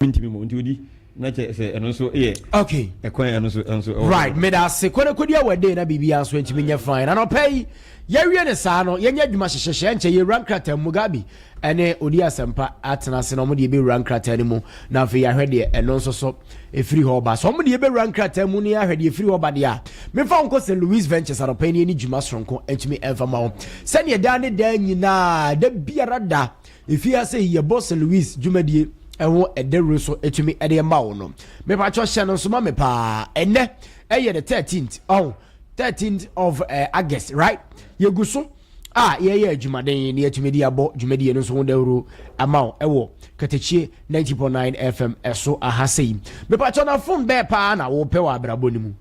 mentumi mmom nti odi na kyɛ sɛ ɛno nso yɛ okay ɛkwan ɛno nso ɛnso ɛwɔ right meda ase kɔnɛ kɔdi awɔ den na biribi nso ntumi nyɛ fine na nɔpɛ yi yɛwie ne saa no yɛnyɛ adwuma hyehyɛhyɛ nkyɛ yɛwura nkrataa mu gabi ɛne odi asɛmpa atena ase na ɔmode yɛbɛwura nkrataa no mu na afei yɛahwɛ deɛ ɛno nso so ɛfiri hɔ ba so ɔmode yɛbɛwura nkrataa mu ne ahwɛ deɛ ɛfiri hɔ ba deɛ a mefa nkɔ sɛ louis ventures anɔpɛ ne ɛne dwuma soronko ntumi ɛmfa ma wo sɛdeɛ daa ne daa nyinaa da biara da Efi ha sɛ yɛbɔ Sir Lewis dwumadie ho dawuro so tumi de ma wo no, mepakyɛ hyɛ no nso ma me paa. Ɛnɛ ɛyɛ the thirteenth ɔho, thirteenth of uh, August right? Yɛgu so a yɛyɛ adwumaden na yɛatumi de abɔ dwumadie no nso ho dawuro ama wo ɛwɔ Katakyie 90.9 FM ɛso aha sɛ yi. Mepakyɛ na fon bɛɛ paa na wopɛ wɔ abrabɔ no mu.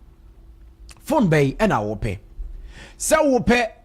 Fon bɛyi ɛna wopɛ sɛ wopɛ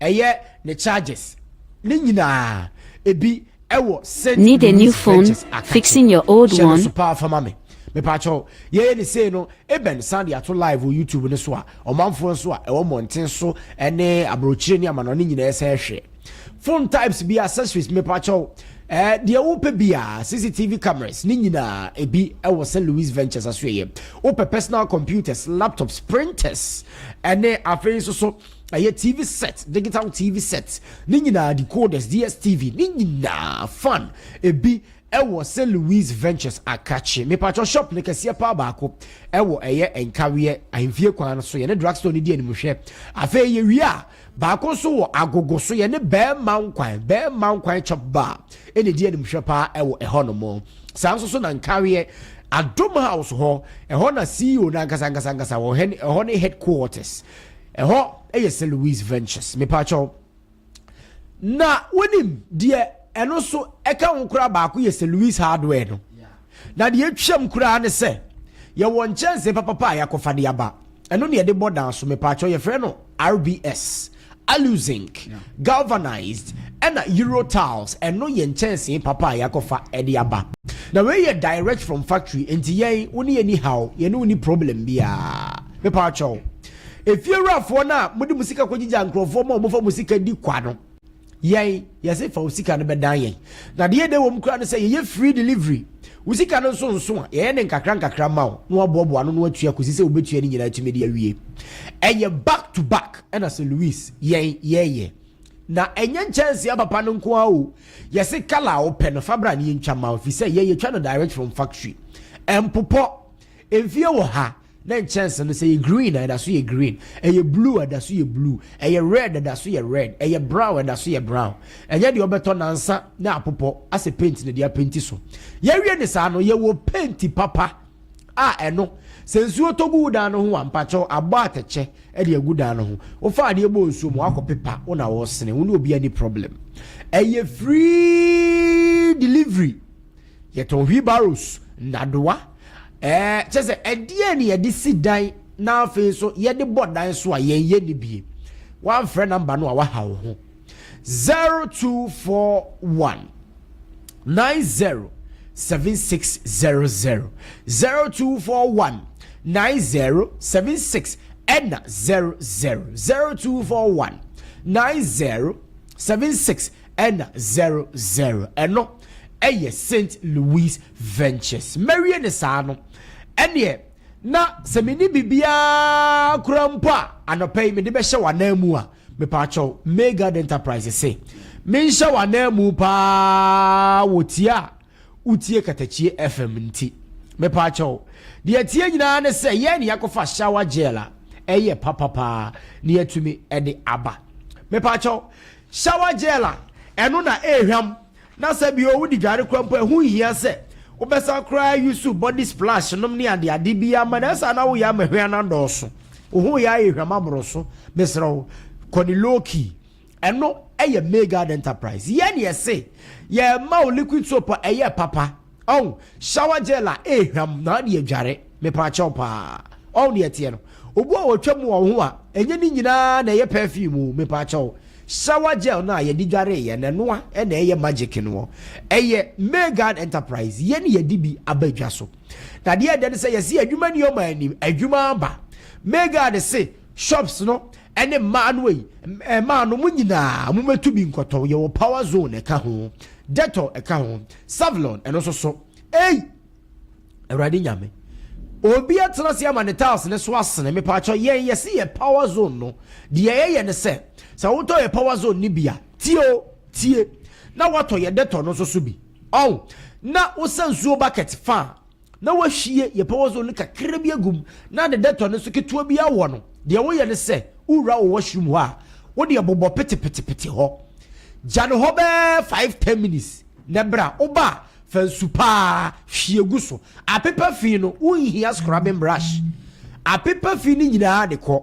ɛyɛ ne charges ne nyinaa ebi ɛwɔ Saint Need a new phone fixing your old one so paa fama me mepaakyɛw yɛyɛ ne sei no ebɛn san de ato live wɔ youtube no so a ɔmanfoɔ nso a ɛwɔ mmɔnten so ɛne aburokyire ne amanɔ ne nyinaa ɛsɛ ɛhwɛ phone types bi accessories mepaakyɛw Eh, deɛ wopɛ biara cctv cameras ne nyinaa ebi wɔ st louis ventures aso yɛ wopɛ personal computers laptops printers ɛne afei nso so Ɛyɛ TV set, digital TV set, ne nyinaa decoders, DSTV, ne nyinaa fan. Ebi ɛwɔ St. Louis Ventures Akrakye. Mepatwɔ shop ne kɛseɛ paa baako ɛwɔ ɛyɛ Nkaweɛ ahemfie kwan no so. Yɛne drugstore no di animhwɛ. Afei yɛwie a baako nso wɔ agogo so yɛne bɛɛma nkwan bɛɛma nkwan chop bar ɛna ɛdi animhwɛ paa ɛwɔ ɛhɔ nom. Saa nso so na Nkaweɛ Adom House hɔ ɛhɔ na CEO no ankasa ankasa ankasa wɔ ɛhɔ ne headquarters. Ɛhɔ yɛ St. Louis Ventures, mepakyɛw. Na wonim deɛ ɛno nso ɛka ho koraa baako yɛ St. Louis Hardware no. Na deɛ atwam koraa ne sɛ yɛwɔ nkyɛnsee papapa a yɛakɔfa de aba. Ɛno ne yɛde bɔ dan so mepakyɛw yɛfrɛ no RBS, Aluzinc, Galvanized, ɛna Eurotiles. Ɛno yɛ nkyɛnsee papa a yɛakɔfa de aba. Na wei yɛ direct from factory nti yɛn wo ne yɛn ni haw, yɛne wo ni problem biara mepakyɛw. Efiewurafoɔ no a mode mo sika kɔgyigyaa nkurɔfoɔ ma wɔfa mo sika di kwa no, yɛn, yɛse fa wo sika no bɛdan yɛn. Na deɛ ɛdɛ wɔ mu koraa ne sɛ yɛyɛ free delivery. Wo sika no nso nso a, yɛyɛ ne nkakra nkakra ma wo na woaboaboa ano na woatua kɔsi sɛ wobɛtua ne nyinaa atumi de awie. Ɛyɛ back to back ɛna sɛ Louis, yɛn, yɛyɛ. Na ɛnyɛ nkyɛnsee apapa no nko ara o, yɛse colour a wopɛ no fa bra na yɛntwa ma wo ɛfiri sɛ yɛn yɛtwa no direct from factory. Ɛmpopɔ. Mfie wɔ ha. Na nkyɛnse no, sɛ ɛyɛ green a, ɛda so yɛ green. Ɛyɛ blue a, ɛda so yɛ blue. Ɛyɛ red a, ɛda so yɛ red. Ɛyɛ brown a, ɛda so yɛ brown. Ɛnyɛ deɛ wobɛtɔ nansa na apopɔ asɛ paint na ɛde apenti so. Yɛawie no saa no, yɛwɔ paint papa a ɛno, sɛ nsuo tɔ gu wo dan no ho a, mpakyɛw, abɔ atɛkyɛ de agu dan no ho. Wofa adeɛ bɔ nsuo mu, woakɔpepa, wo na wɔresene. Wo ne obiara ni problem. Ɛyɛ free delivery. Yɛtɔn wheelbarrows, nnadewa, Ɛɛ, kyerɛ sɛ ɛdeɛ ne yɛde si dan na afei nso yɛde bɔ dan so a yɛn yɛ ne bie. Wamfrɛ namba no a waha wo ho. Zero two four one nine zero seven six zero zero zero two four one nine zero seven six ɛna zero zero zero two four one nine zero seven six. Ɛna zero zero ɛno ɛyɛ Saint Louis Ventures. Mɛwie no saa no, ɛneɛ na sɛ menni biribiara koraa mpo a anɔpa yi mede bɛhyɛ w'anan mu a, mepaakyɛw May Guard Enterprise se menhyɛ w'anan mu paa wɔ tie a wotie katakyie FM nti. Mepaa kyɛw, deɛ ɛteɛ nyinaa ne sɛ yɛn ne yɛakɔfa shower gel a ɛyɛ papa paa ne yɛatumi de aba. Mepaa kyɛw, shower gel a ɛno na ɛrehwam na sɛ bio wode dware koraa mpo a ɛho nhia sɛ wobɛsan koraa use body splash nom ne ade ade biara ma no ɛsaa na woyɛ ama hwea no adɔɔso. Wo ho yɛ ayɛ hwam aboro so, mesrɛ wo kɔ ne low key. Ɛno yɛ Maygard Enterprise. Yɛn ne yɛse yɛma wo liquid soap a ɛyɛ papa. Ɔn, shower gel a ehwam na ɔde adware. Mepaakyɛw paa. Ɔn ne ɛteɛ no. Obu a otwa mu wɔ wo ho a, ɛnyɛ ne nyinaa na ɛyɛ perfume o, mepaakyɛw. Shower gel no a yɛde dwaree yɛn no, ɛno a na ɛyɛ magic no ɔ. Ɛyɛ Maygard Enterprise. Yɛn ne yɛde bi aba dwa so. Na deɛ ɛdɛ ne sɛ yɛse adwuma nie ɔma anim, adwuma aba. Maygard se. Shops no ne mmaa no ei, mmaa no mo nyinaa mo mɛtu bi nkɔtɔ, yɛwɔ power zone ɛka ho, dettol ɛka ho, savlon ɛno nso so ei awurade nyame obi atena se ama ne tiles ne so asene mepaakyɛ yɛn yɛse yɛ power zone no deɛ yɛyɛ ne sɛ sɛ wotɔ yɛ power zone ne bi a tie o tie na watɔ yɛ dettol no nso so bi ɔn na wosa nsuo bucket fa na woahwie yɛpawɔzol no kakra bi agu mu na de dɛtɔ no nso ketewa bi awɔ no. Deɛ woyɛ ne sɛ, wowura wo washroom hɔ a, wodeɛ bobɔ petepetepete hɔ. Gya no hɔ bɛɛ five ten minutes na bere a woba a, fa nsu pa ara hwie gu so. Apepa fi no, wonhia scrubbing brush. Apepa fi no nyinaa de kɔ.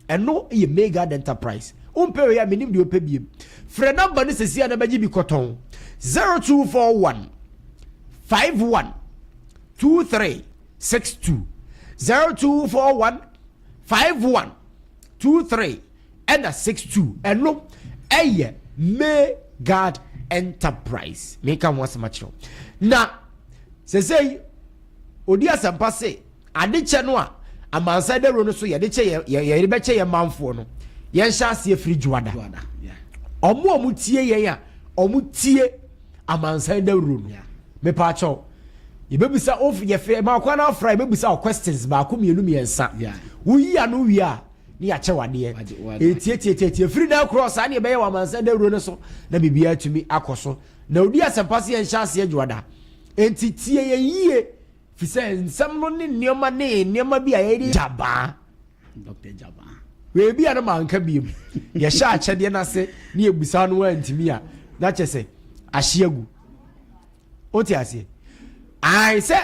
Ɛno yɛ Maygard Enterprise. Wompɛ wei a, menim deɛ wopɛ biom. Frɛ nɔmba no seesei a na bɛgye bi kɔtɔn. Zero two four one five one two three six two zero two four one five one two three ɛna six two ɛno ɛyɛ may guard enterprise meka ho asɛm akyerɛw na sɛsɛyi odi asɛmpa se. Adekyɛ no a amansan dawuro no so yɛde kyɛ yɛn yɛde bɛkyɛ yɛn manfoɔ no yɛnhyɛ aseɛ firi dwoada wɔn a wɔn tie yɛn a wɔn tie amansan dawuro no mepa akyɛw yɛbɛbisa of yɛfɛ ma ɔkwan no afra yɛbɛbisa o questions baako mmienu mmiɛnsa woyi ano wie a ne yɛakyɛ wadeɛ ɛtietietietie firi na akorɔ saa ne yɛbɛyɛ wɔ amansan dawuro no so na biribiara atumi akɔ so na odi asɛmpa se yɛnhyɛ aseɛ dwoada enti tie yɛn yie Efisɛ nsɛm no ne nneɛma ne nneɛma bi a yɛde gyabaa. Dɔkta gyabaa. Beebi a no ma nka biem. Yɛhyɛ akyɛdeɛ no ase ne yɛbusa no antumi a, na kyɛ sɛ ahye agu. Wote aseɛ? Ae sɛ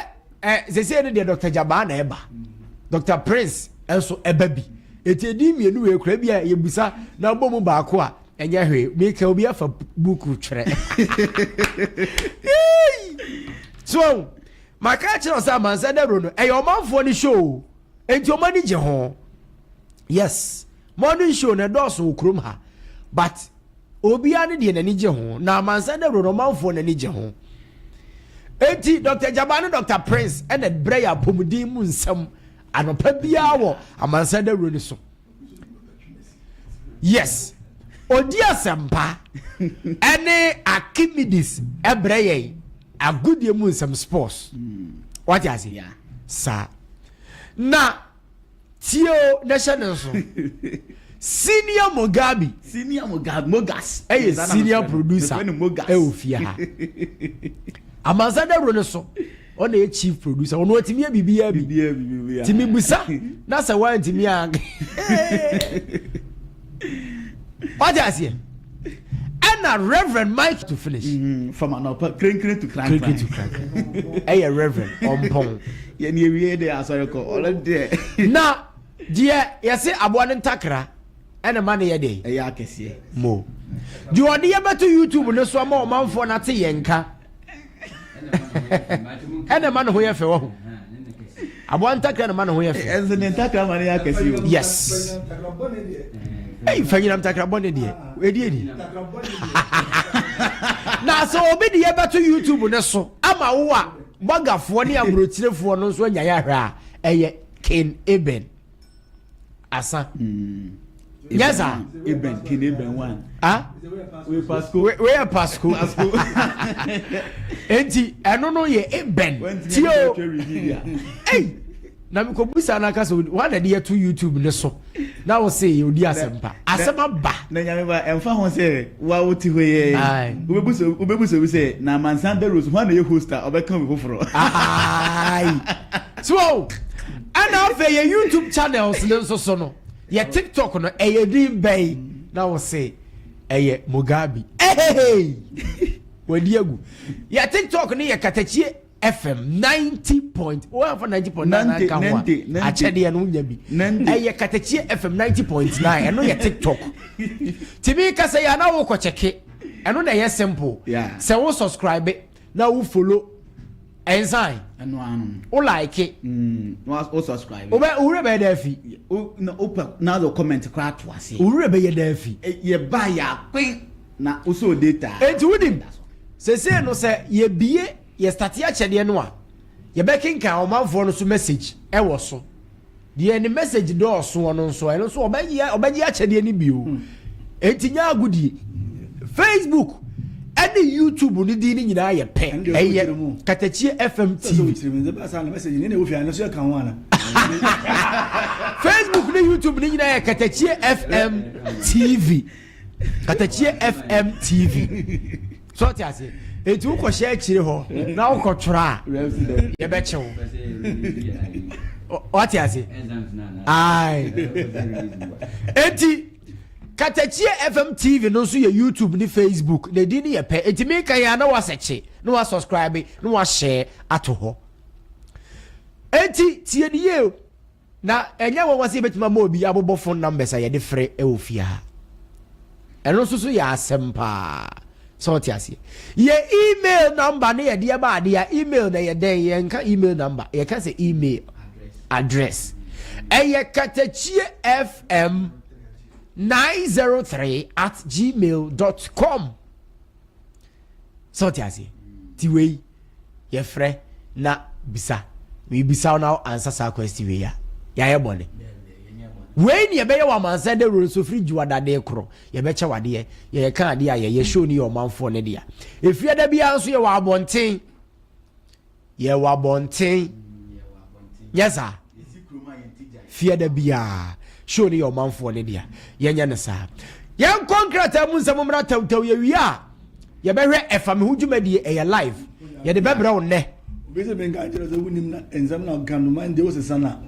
sɛsei no deɛ Dɔkta gyabaa na ɛba. Dɔkta Prince nso ɛba bi. Eti edin mmienu wei kura bi a yɛbusa na abɔ mu baako a, ɛnyɛ hwee meka obi afa buku twerɛ so maka akyerɛ wo sɛ amansa dawuro no ɛyɛ ɔmanfoɔ no show enti ɔma ani gye ho yes morning show na ɛdɔɔso wɔ kurom ha but obiara ne deɛ n'ani gye ho na amansa dawuro no ɔmanfoɔ n'ani gye ho enti dr jaba ne dr prince ɛna brɛ yɛ apɔmuden mu nsɛm anɔpa biara wɔ amansa dawuro no so yes ɔdi asɛmpa ɛne archimedes ɛbrɛ yɛn agodie mu nsɛm sports wate ase saa na tie o na hyɛ ne nso senior mogabi senior mogabi mogas ɛyɛ senior producer ɛwɔ fie ha amansa dawuro no so ɔna yɛ chief producer ɔno ɔtumi yɛ biribiara bi tumi busa na sɛ wantumi a wagye aseɛ ɛna reverend mike to finish mm-hmm. from anɔpa krenkren to krankran to krankran ɛyɛ reverend ɔmpɔn yɛne awie de asɔre kɔ ɔlɛ deɛ na deɛ yɛse aboa no ntakra ɛna ɛma no yɛ dɛn? Ɛyɛ akɛseɛ. Mo. Deɛ ɔde yɛ bɛto YouTube no so ama ɔmanfoɔ no ate yɛn nka. ɛna ɛma ne ho yɛ fɛ wɔ ho. Aboa ntakra na ɛma ne ho yɛ fɛ. Ɛnso ne ntakra ma ne yɛ akɛseɛ o. Yes. Ɛyi fa nyinam takra bɔ ne deɛ. Ɛdi ɛdi. Na sɛ obi de yɛ bɛto YouTube no so ama wo a bɔgafoɔ ne aburokyerɛfoɔ no nso anyaeɛ ahwɛ a ɛyɛ Ken Eben. asa nyɛ saa ebɛn kene ebɛn wan ah wei pasco wei yɛ pasco pasco eti ɛno no yɛ ebɛn tie o ei na mekɔ busa na kasa wɔn na de yɛto youtube ne so na wɔsɛ yɛ odi asɛm pa asɛm aba na nyame ba ɛnfa ho sɛ wa wo ti hɔ yɛ wobɛbusa wobɛbusa bi sɛ na amansan bɛrɛ so wɔn na yɛ host a ɔbɛka obi foforɔ ayi so. Ɛna afei yɛ YouTube channels no nso so no, yɛ TikTok no ɛyɛ din bɛyi na wɔse ɛyɛ Mugabe. Ehehei! Wadi agu. Yɛ TikTok no yɛ Katakyie FM 90 point wɔamfa 90 point nine anka ho a akyɛdeɛ no wonya bi. Ɛyɛ Katakyie FM 90 point nine ɛno yɛ TikTok. Tìmí kasa yɛ anáwó kɔ kyɛke ɛno na ɛyɛ simple. Sɛ wo subscribe na wo follow ɛnsan ɛno ano no wo like mm wa wo subscribe wo bɛ wo wura bɛyɛ dɛ fi o na o pɛ na o comment kora to ase wo wura bɛyɛ dɛ fi e, yɛ ba yɛ akwen na o so data enti wo nim sese no sɛ yɛ bie yɛ start yɛ akyɛdeɛ no a yɛ bɛ kenkan ɔmanfoɔ no so message ɛwɔ so deɛ ne message dɔɔsoɔ no nso ɛno nso ɔbɛyɛ ɔbɛgye akyɛdeɛ no bio hmm. enti nyɛ agodie facebook ɛne youtube ne din no nyinaa yɛ pɛ ɛyɛ katakyie fm tv facebook ne youtube ne nyinaa yɛ katakyie fm tv katakyie fm tv so ɔte ase eti wokɔ hyɛ akyire hɔ na wokɔ twerɛ a yɛbɛkyew ɔte ase ae eti katakyie fm tv no nso yɛ youtube ne facebook na ɛdi ne yɛ pɛ eti meka yɛ a na wasɛkye na wasubscribe na wahyɛ ato hɔ eti tie ne yie o Na ɛnyɛ nwanwa sɛ yɛbɛtumi ama obi abobɔ phone numbers a yɛde frɛ wɔ fie ha. Ɛno nso so yɛ asɛm paa. Sɛ ɔte aseɛ. Yɛ email number ne yɛde ɛba adeɛ a email na yɛ dɛn yɛnka email number yɛka sɛ email address. Ɛyɛ katakyie fm 903 at gmail dot com. sɛ ɔte aseɛ ti wei yɛfrɛ na bisa mebisa wo na ansa saa kwesti wei a yɛayɛ bɔne wei ne yɛbɛyɛ wɔ amansan dɛ wuro nso firi gyiwa dadeɛ korɔ yɛbɛkyɛ wadeɛ yɛyɛ ka adeɛ a yɛyɛ show ne yɛ ɔmanfoɔ ne dea ɛfiri ɛda biara nso yɛwɔ abɔnten Yɛ wɔ abɔnten. Nyɛ saa. Fie da biara. Show no yɛ ɔmanfoɔ no dea. Yɛnyɛ no saa. Yɛnkɔ nkrataa mu nsɛm mmra tawtaw yɛwie a yɛbɛhwɛ ɛfa me ho dwumadie ɛyɛ live. Yɛde bɛbrɛ wo nnɛ. Obi sɛ menka nkyerɛ sɛ wonim na nsɛm na ɔka no ma nti wosesa no a.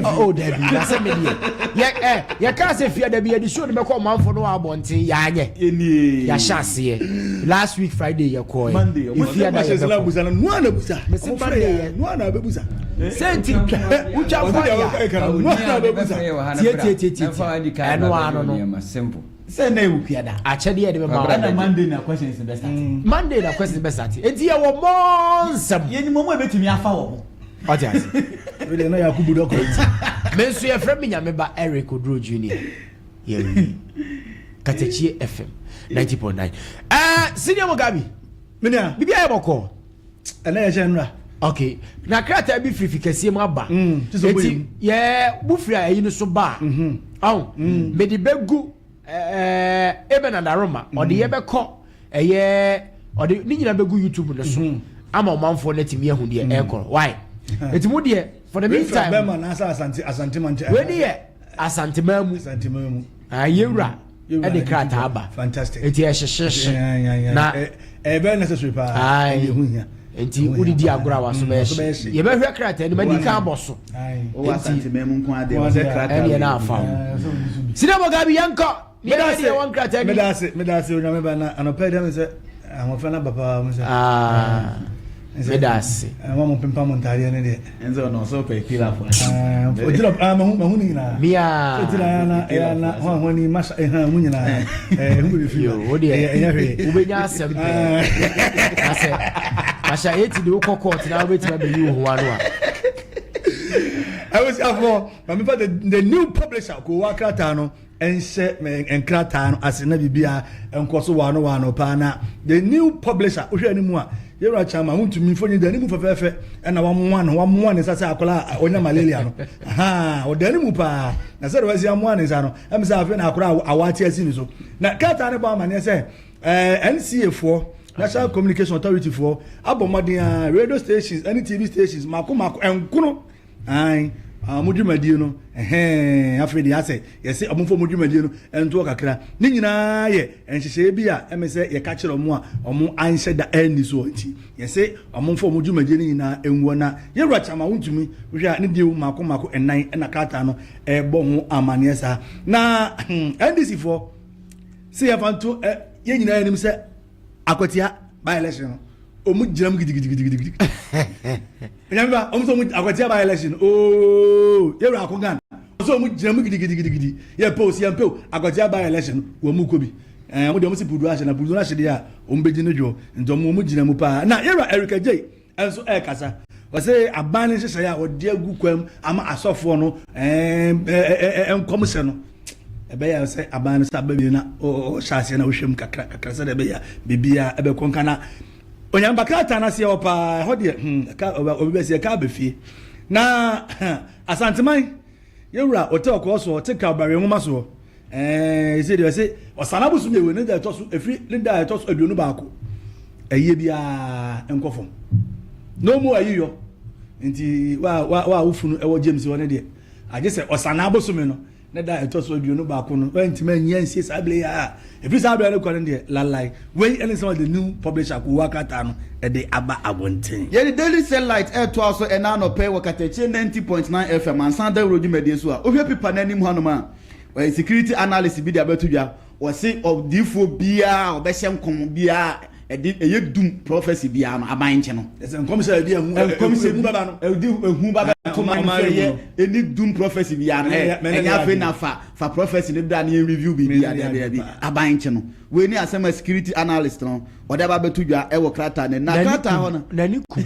oh dabi na sɛ me deɛ yɛ ɛ eh, yɛkaa sɛ fia dabi yɛde suo de bɛkɔ ɔmanfo no wɔ abɔnten yɛanyɛ yɛahyɛ aseɛ last week friday yɛkɔɛ ɛfia da yɛbɛkɔ mese monday yɛ sɛ nti wotwa fɔyɛtietitietiti ɛno ano no sɛ na ɛwɔ fia da akyɛdeɛ yɛde bɛma ɛna monday na questions bɛsate monday na questions bɛsate ɛnti yɛwɔ mɔ nsɛm yɛnim ɔmo ɛbɛtumi afa wɔ ho wate ase wede na yakubu dɔkɔ nti me nso yɛfrɛ me nyame ba eric oduro junior yɛwi katakyie fm 90.9 ɛɛ senior mugabi menua biribi ayɛ bɔkɔɔ ɛnɛ yɛhyɛ nnura okay na krataa bi firifi kɛseɛ mu aba ɛti mm, yɛ bu firi a ɛyi no so ba a mm-hmm. ɔn mm. mede bɛgu Ɛɛ Eben Adaroma ɔde mm. yɛbɛkɔ ɛyɛ ɔde ne nyinaa bɛgu YouTube no so mm. ama ɔmanfoɔ no atumi ahu deɛ mm. ɛrekɔ why ɛti mu deɛ for the meantime wɛni yɛ asantemaa mu yɛwura ɛde krataa aba ɛti ɛhyehyehye na ɛbɛyɛ necessary paa ɛde ho hia Nti wode di agorɔ a waso bɛyɛ hye. Yɛbɛhwɛ krataa no ma di kan abɔ so. Wowɔ Asante man mu nko adeɛ wɔ sɛ krataa wei. Ɛneɛ na afa ho. Sina mo gabi yɛnkɔ. Yɛbɛ deɛ wɔn krataa ni. Medase medase onyame ba na anɔpɛ dɛm sɛ ahoɔfɛ na ba paa mu sɛ. Ah. Medase. Ɛma mo pempa mo ntaadeɛ ne deɛ. ɛnzɛ ɔno ɔsɛ ɔpɛ kila fo ase paa ɔgyina paa mahu mahu ne nyinaa bia so gyina ya na ɛyɛ na ho a ho ani masa ɛha mu nyinaa ɛɛ ho bɛ fi yo o deɛ ɛyɛ hwɛ wobɛnya asɛm pɛ asɛ asɛ eti de wokɔ kɔɔt na wobɛtumi abɛyi wo ho ano a I was for Mamifa the, the new publisher ko wa krataa no nhyɛ me nkrataa no ase na biribiara nkɔ so waano waano paa na the new publisher wohwɛ ne mu a yɛwura kyama wontumi mfoni da ne mu fɛfɛɛfɛ ɛna wamoa no wamoa ne nsa sɛ akɔla a ɔnya malaria no ha ɔda ne mu paa na sɛ wɔasi amoa ne nsa no ɛm sɛ afei na akora a awate asi ne so na krataa no bɔ amanneɛ sɛ eh, nca foɔ national communication authority foɔ abɔ mmɔden a radio stations ɛne tv stations mako mako ɛnkono Ae, ɔmo dwumadie no, ɛhɛɛn, afei deɛ asɛ, yɛse ɔmo mfa ɔmo dwumadie no ntoɔ kakra. Ne nyinaa yɛ nhyehyɛeɛ bi a ɛme sɛ yɛka kyerɛ ɔmo a ɔmo anhyɛ da anni soɔ nti. Yɛse ɔmo mfa ɔmo dwumadie no nyinaa nguɔ na Yɛwura Kyama Wontumi, wohwɛ a ne deɛo mmaako mmaako nnan na krataa no ɛɛbɔ ho amaneɛ saa. Na NDC foɔ se yɛmfa nto ɛ, yɛn nyinaa nim sɛ, akwatia by election no ɔmu gyina mu gidigidigidigidi ɛnyame ba ɔmu sɛ ɔmu akwatia by election ooo yɛwura ako gan ɔsɛ ɔmu gyina mu gidigidigidigidi yɛ pɛw si yɛn pɛw akwatia by election wɔn mu kɔ bi ɛɛ ɔmu deɛ ɔmu si pudu ahyɛ na pudu ahyɛ deɛ a ɔmu bɛgyi ne dwoɔ nti ɔmu ɔmu gyina mu paa na yɛwura Erica J nso rekasa. Ɔse aban no nhyehyɛeɛ a ɔde agu kwam ama asɔfoɔ no nkɔmhyɛ no ɛbɛyɛ sɛ aban no sɛ abɛwie na ɔhyɛ aseɛ na wohwɛ mu kakra kakra sɛdeɛ ɛbɛyɛ a biribiara ɛbɛkɔ nka na onyampa krataa no aseɛ hɔ paa ɛhɔ deɛ hmm, ɔbɛbɛsi ɛka abɛfie na asanteman yɛwura ɔte ɔkɔɔ soɔ ɔte kawbare nwoma soɔ Ɛɛ, ɛsɛ deɛ ɛsɛ ɔsan abosom yɛ wɔ ne da ɛtɔ so ɛfiri ne da ɛtɔ so aduonu baako ɛyɛ biara nkɔ fam na ɔmu ayi yɔ nti wa wa wa wofunu ɛwɔ James hɔ ne deɛ agye sɛ ɔsan abosom no ne da ɛtɔ so aduonu baako no ɛntumi anyi ansie saa abiri yɛ a ɛfiri saa abiri no kɔ ne deɛ lalai wei ɛne sɛ ɔde new publisher kowɔ akrataa no ɛde aba abɔnten. Yɛde Daily Cell Light ɛretoa so ɛna anɔpɛ wɔ Katakyie 90.9 FM ansa dawuro dwumadie so a wohwɛ pipa no anim hɔnom a. Wɔyɛ security analyst bi de abɛto dwa. Wɔse ɔdiyifoɔ biara a ɔbɛhyɛ nkɔm biara a ɛde ɛyɛ dum, prophecy, biara no, aban nkye no. Ɛsɛ nkɔmhyɛ a ɛde ehu, nkɔmhyɛ ehu bɛba no. Ɛde ehu bɛba no. To man no sɛ yɛ ɛni dum prophecy biara no. Ɛ ɛnyɛ afei na fa fa prophecy no bra na yɛn review biribi a daabi daabi. Aban nkye no. Wei ne asɛm a security analyst no ɔde aba abɛto dwa ɛwɔ krataa no anim. Na krataa hɔ no. N'ani kum.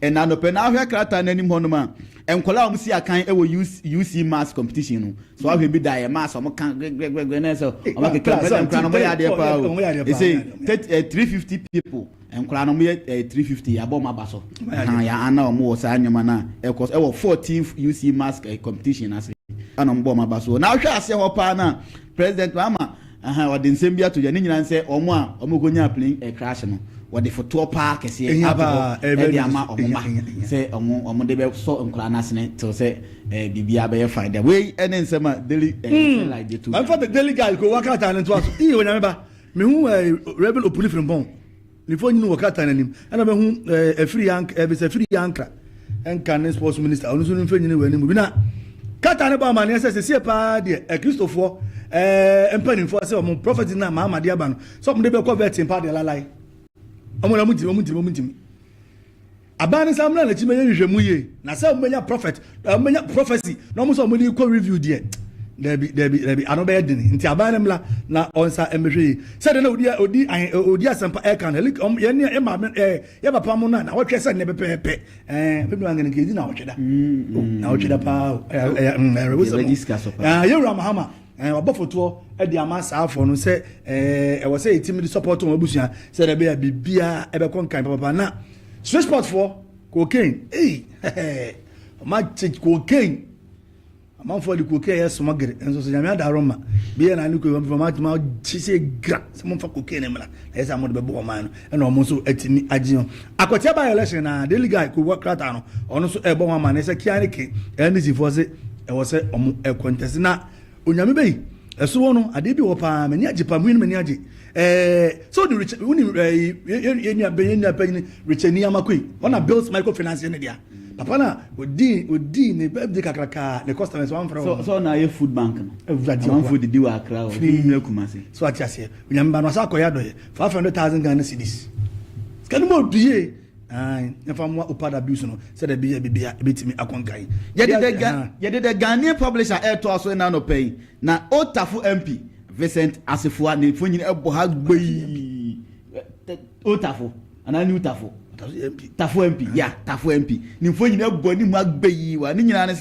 Ɛna anɔpɛ na ahwɛ krataa no anim hɔ nom a nkwadaa a wɔn si akan wɔ UC mass competition no so ahwɛ bi da yɛ mass wɔn ka grɛgrɛgrɛ na ɛsɛ wɔn akeka mu ɛna nkwadaa no wɔn yɛ adeɛ paa o ɛsɛ eh, three fifty people nkwadaa no wɔn yɛ eh, three fifty yabɔ wɔn aba so ɛhan yɛ ana wɔn wɔ saa nneɛma na ɛkɔ so ɛwɔ fourteen UC mass eh, competition ase ɛna wɔn bɔ wɔn aba so na ahwɛ aseɛ hɔ paa na president mahama. Ahaa wɔde nsɛm bi ato dwa ne nyinaa ne sɛ wɔn a wɔkɔnyaa plane crash no wɔde fotoɔ paa kɛseɛ ato hɔ de ama wɔn mma sɛ wɔn de bɛsɔ nkwadaa no asene tew sɛ biribiara bɛyɛ fine dɛ wei ne nsɛm a daily sunlight de to dwa. Ɛmfa the daily guy ko wɔn krataa no ntoa so ii onyame ba mehu Reverend Opuni Frimpong. Ne mfonyin wɔ krataa no anim. Nna mehu afiri ankra, Elvis afiri ankra, nka ne sports minister, ɔno nso ne mfonyin wɔ anim bi. Na krataa no bɔ amanneɛ sɛ sesie paa deɛ Akristofoɔ eh, mpanimfoɔ sɛ wɔn prophet na maama de aba no sɛ wɔn de bɛkɔ vet mpa deɛ lalae. Wɔn na wɔn ntumi, wɔn ntumi, wɔn ntumi. Aban no san mmra n'akyi mmɛyɛ nhwehwɛmu yie na sɛ wɔbɛnya prophet na wɔbɛnya prophecy na wɔn sɛ wɔn de kɔ review deɛ dɛbi dɛbi dɛbi ano bɛyɛ den nti aban no mmra na ɔnsa mmɛhwɛ yie sɛdeɛ na odi odi odi asɛmpa ɛka no ɛlik wɔn yɛn yɛn maame ɛɛ yɛ papa mo na na wɔtwɛ sɛ nnɛ pɛpɛɛpɛ ɛɛ bɛbi wɔn ankɛnɛ kɛ edi na wɔtwɛ da na wɔtwɛ da paa ɛɛ ɛɛ ɛɛ yɛwura mahama Eh, wabɔ fotoɔ de ama saa afɔ no sɛ eh, ɛwɔ sɛ yɛtumi de support wɔn abusua sɛ dɛ bɛyɛ biribiara ɛbɛkɔ nkan papapa na swiss sportfoɔ cocaine ei ɔma kye cocaine amanfoɔ de cocaine yɛ smuggle nso so nyame adaro ma biyɛ na ne kɔ wɔn fama ma kye sɛ gra sɛ momfa cocaine mmra na ɛyɛ sɛ mode bɛbɔ ɔman no ɛna ɔmo nso atumi agye ho akwatia by election na daily guy kowɔ krataa no ɔno nso ɛbɔ ho amane sɛ kia ne ke ndc foɔ se ɛwɔ sɛ ɔmo ɛkɔntɛse na onyame bɛyi ɛso wɔ no adeɛ bi wɔ paa m'ani agye paa muyi no m'ani agye ɛɛ sɛ odi richard woni ɛɛ yɛnua bɛyɛ nua panyin richard niyama koi ɔna bills microfinance ne dea papa na odi odi ne birthday kakraka ne customers wan fere wɔn. sọ na ayɛ food bank no. awurade ɔkwa amanfo didi wɔ akra hɔ firi nyina kuma se. so ati aseɛ onyame ba no asa akɔyɛ adɔyɛ five hundred thousand ghana cedis sika no mu ɔdu yie ayi yɛfa mmoa opad abuse no sɛ dɛ bi yɛ bibi a ebetumi akɔnka yi. yɛde dɛ ga yɛde dɛ ghanaian publisher ɛɛtoa so ɛna anɔpa yi na old tafo mp vincent assefuwa ne mfonyin ɛbɔ ha gbɛii. O Tafo anaa New Tafo? Tafo MP, yeah, Tafo MP. Nimfoɔ nyinaa abu anim agbeyii wɔ ha. Ne nyinaa ne sɛ.